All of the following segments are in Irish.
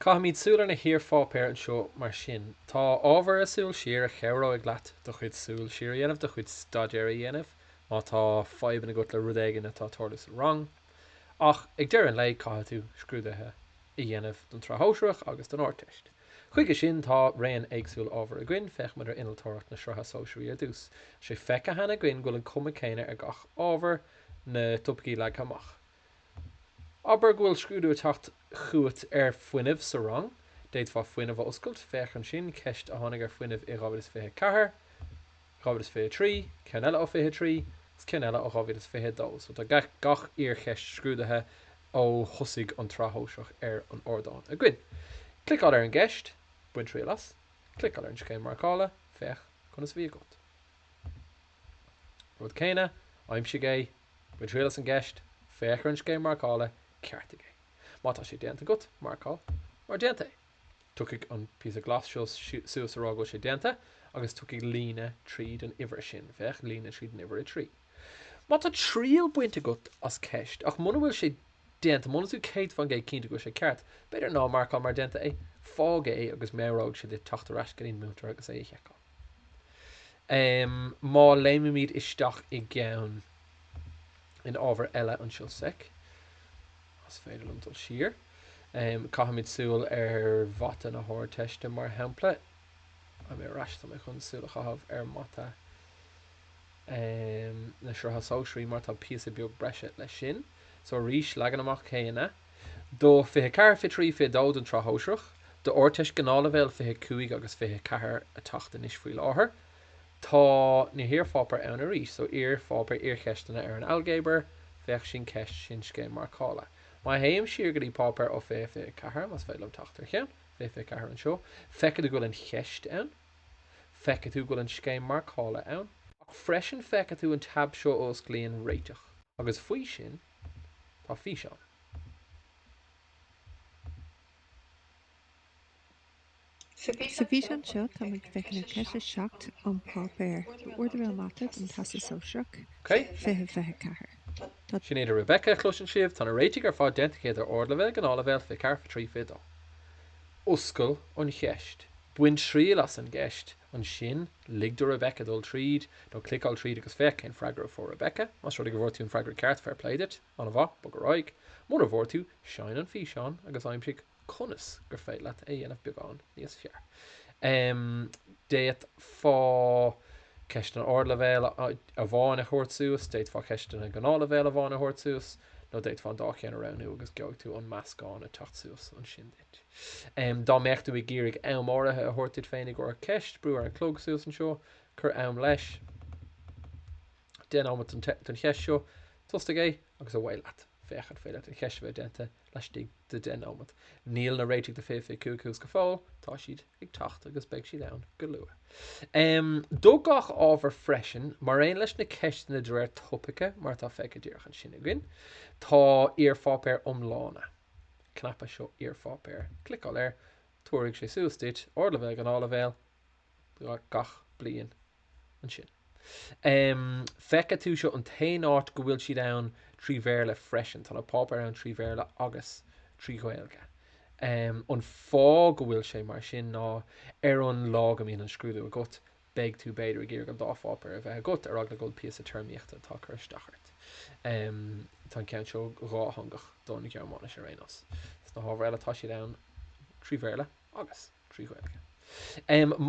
Caithfimíd súil ar na hiar-pháipéir annseo mar sin. Tá ábhar ar Súil Siar a chabhróidh leat do chuid súil siar a dhéanamh, do chuid staidéir a dhéanamh, má tá fadhbann agat le rud éigin atá ag tarlú sa rang. Ach ag deireadh an lae caithfidh tú scrúduithe a dhéanamh don tSraith Shóisearach agus don Ardteist. Chuige sin tá raon éagsúil ábhar againn. Féachaimid ar Innealtóireacht na Sraithe Sóisearaí ar dtús. 'S é feicthe cheana againn go bhfuil an cuma céanna ar gach ábhar, na topaicí leagtha amach. Abair go bhfuil scrúdú ag teacht chugat ar fuinneamh sa rang. D'fhéadfá fuinneamh a oscailt, féach ansin ceist a tháinig ar fuinneamh i 2024, 2023, ceann eile ó 23, agus ceann eile ó 2022. So tá gach iarcheist scrúdaithe ó thosaigh an tsraith shóisearach ar an ardán againn. Cliceáil ar an gceist, bain triail as. Cliceáil ar an scéim marcála, féach conas a bhí agat. Rud céanna, aimsigh é. Bain triail as an gceist, féach ar an scéim marcála, ceartaigh é. Má tá sé déanta agat, marcáil mar déanta é. Tiocfaidh an píosa glas seo suas a rá go bhfuil sé déanta agus tiocfaidh líne tríd an uimhir sin, féach líne tríd an uimhir 3. Má tá triail bainte agat as ceist ach muna bhfuil sé déanta, muna bhfuil tú 100% cinnte go bhfuil sé ceart, b'fhéidir ná marcáil mar déanta é. Fág é agus meabhróidh sé duit teacht ar ais go dtí'n múinteoir agus é a sheiceáil. Em má léimimíd isteach i gceann in ábhar eile anseo sec, más féidir liom dul siar, em caithfimid súil ar mhata na hArdteiste mar shampla. Agus ar ais, tá mé chun súil a chaitheamh ar mhata em na Sraithe Sóisearaí mar tá píosa beag breise leis sin. So arís leagan amach céanna. do 24, 23, 22 don tSraith Shóisearach, don Ardteist Gnáthleibhéal 25 agus 24 ag teacht anois faoi láthair. Tá na hiarpháipéir ann arís so iarpháipéir iarcheisteanna ar an Ailgéabar, féach Sin Ceist, Sin Scéim Marcála. Má théim siar go dtí páipéar ó 20, 24, más féidir liom teacht ar cheann, 20, 24 anseo, feicfidh tú go bhfuil an cheist ann. Feicfidh tú go bhfuil an scéim marcála ann. Ach freisin feicfidh tú an tab seo a osclaíonn Réiteach. Agus faoi sin. Tá físeán. Sa bhfíseán seo tá muid ag féachaint ar cheist 7 ón páipéar Ardleibhéal Mata don Teastas Sóisearach 2024. Tá. Sin í Rebecca a chloiseann sibh. Tá na réitigh ar fad déanta cheana ar Ardleibhéal, Gnáthleibhéal, 24, 23, 22. Oscail an cheist. Bain triail as an gceist. Ansin, lig do Rebecca dul tríd, nó cliceáil tríd agus féach cén freagra a fuair Rebecca. Más rud é go bhfuair tú an freagra ceart, fair play duit, an-mhaith, bog ar aghaidh. Mura bhfuair tú, seinn an físeán agus aimsigh conas gur féidir leat é a dhéanamh beagán níos fearr. D'fhéadfá ceisteanna ardleibhéil amháin a thabhairt suas, d'fhéadfá ceisteanna gnáthleibhéil amháin a thabhairt suas, nó d'fhéadfá an dá cheann a roghnú agus gheobhaidh tú an meascán ag teacht suas ansin duit. Dá mbeadh tú ag iarraidh am áirithe a thabhairt duit féin i gcomhair ceist, brú ar an chlog suas anseo, cuir am leis, deich nóiméad don cheist seo, tosaigh é agus away leat. Féach an féidir leat an cheist a bheith déanta laistigh de 10 nóiméad. Níl na réitigh do 2025 thuas go fóill, tá siad ag teacht agus beidh siad ann go luath. Do gach ábhar freisin, mar aon leis na ceisteanna de réir topaice mar atá feicthe díreach ansin againn, tá iarpháipéir iomlána. cnaipe seo Iarpháipéir. Cliceáil air. Tabharfaidh sé suas duit ardleibhéal gnáthleibhéal gach bliain ansin. Feicfidh tú seo an t-aon áit go bhfuil siad ann trí Bhéarla freisin. Tá na páipéir ann trí Bhéarla agus trí Ghaeilge. An fáth go bhfuil sé mar sin ná ar an lá go mbíonn an scrúdú agat beidh tú b'fhéidir ag iarraidh an dá pháipéar a bheith agat ar eagla go bhfuil píosa téarmaíochta atá ag cur isteach ort. Tá an ceann seo dátheangach don Ghearmáinis ar aon nós. Sna hábhair eile tá siad ann trí Bhéarla agus trí Ghaeilge.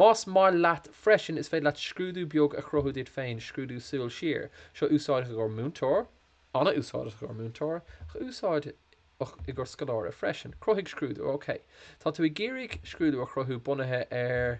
Más maith leat freisin is féidir leat scrúdú beag a chruthú duit féin, scrúdú súil siar. Seo úsáideach i gcomhair múinteoir, an-úsáideach i gcomhair múinteoir, ach úsáideach i gcomhair scoláire freisin. Cruthaigh scrúdú. OK. Tá tú ag iarraidh scrúdú a chruthú bunaithe ar.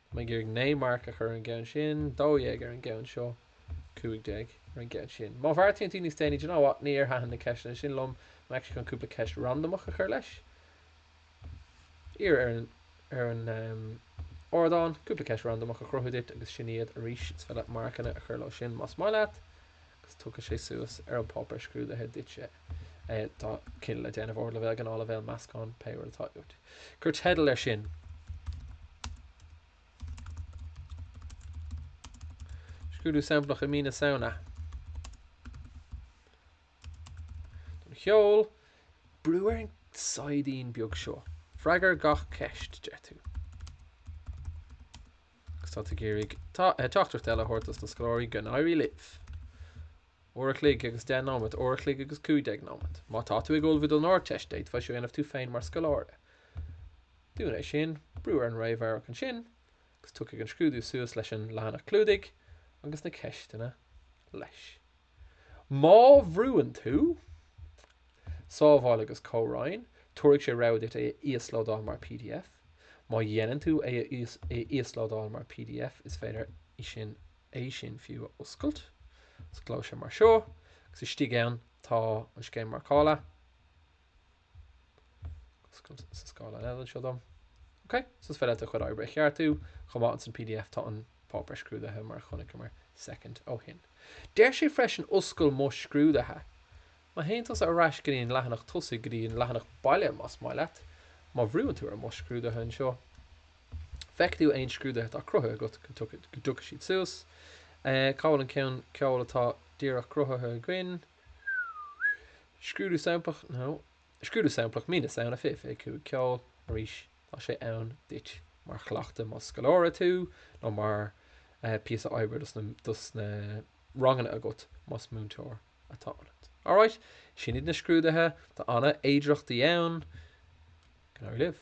Tá mé ag iarraidh naoi marc a chur ar an gceann sin, dó dhéag ar an gceann seo, cúig déag ar an gceann sin. Má bheartaíonn tú níos déanaí, do you know what, níor thaitin na ceisteanna sin liom, I'm actually chun cúpla ceist randamach a chur leis. Iarr ar an, ar an em, ardán cúpla ceist randamach a chruthú duit agus sin iad arís 's féidir leat marcanna a chur leo sin más maith leat agus tugfaidh sé suas ar an páipéar scrúdaithe duit é. Tá cinneadh le déanamh ardleibhéal gnáthleibhéal meascán pé rud atá uait. Cuir teideal air sin. Scrúdú samplach i mí na Samhna. Don cheol, brú ar an saighdín beag seo. Freagair gach ceist, deir tú. Agus tá tú ag iarraidh teachtaireacht eile a thabhairt dos na scoláirí, go n-éirí libh! Uair a chloig agus deich nóiméad, uair a chloig agus cúig déag nóiméad. Má tá tú ag ullmhú don Ardteist, d'fhéadfá seo a dhéanamh tú féin mar scoláire. Dún é sin, brú ar an réamhamharc ansin, agus tiocfaidh an scrúdú suas leis an leathanach clúdaigh agus na ceisteanna leis. Má bhrúann tú Sábháil agus Comhroinn, tabharfaidh sé rabhadh duit é a íoslódáil mar pdf. Má dhéanann tú é a íoslódáil mar pdf, is féidir é sin fiú a oscailt. Osclóidh sé mar seo, agus istigh ann tá an scéim marcála. Osclaíonn sé scáileán eile anseo dom. Ok, so is féidir leat do chuid oibre a cheartú chomh maith insan pdf. Tá an páipéar scrúdaithe mar a chonaiceamar soicind ó shin. Deir sé freisin oscail mo scrúduithe. Má théann tusa ar ais go dtí an leathanach tosaigh, go dtí an leathanach baile más maith leat, má bhrúann tú ar mo scrúduithe anseo, feicfidh tú aon scrúduithe atá cruthaithe agat go dtiocfaidh siad suas. Cá bhfuil an ceann ceoil atá díreach cruthaithe againn? Scrúdú samplach, no. Scrúdú samplach mí na Samhna fiche fiche cúig ceol, arís, tá sé ann duit mar chleachtadh más scoláire tú nó mar píosa oibre dos na dos na ranganna agat más múinteoir atá ionat. Alright, sin iad na scrúduithe, tá ana fhéidearthachtaí ann. Go n-éirí libh.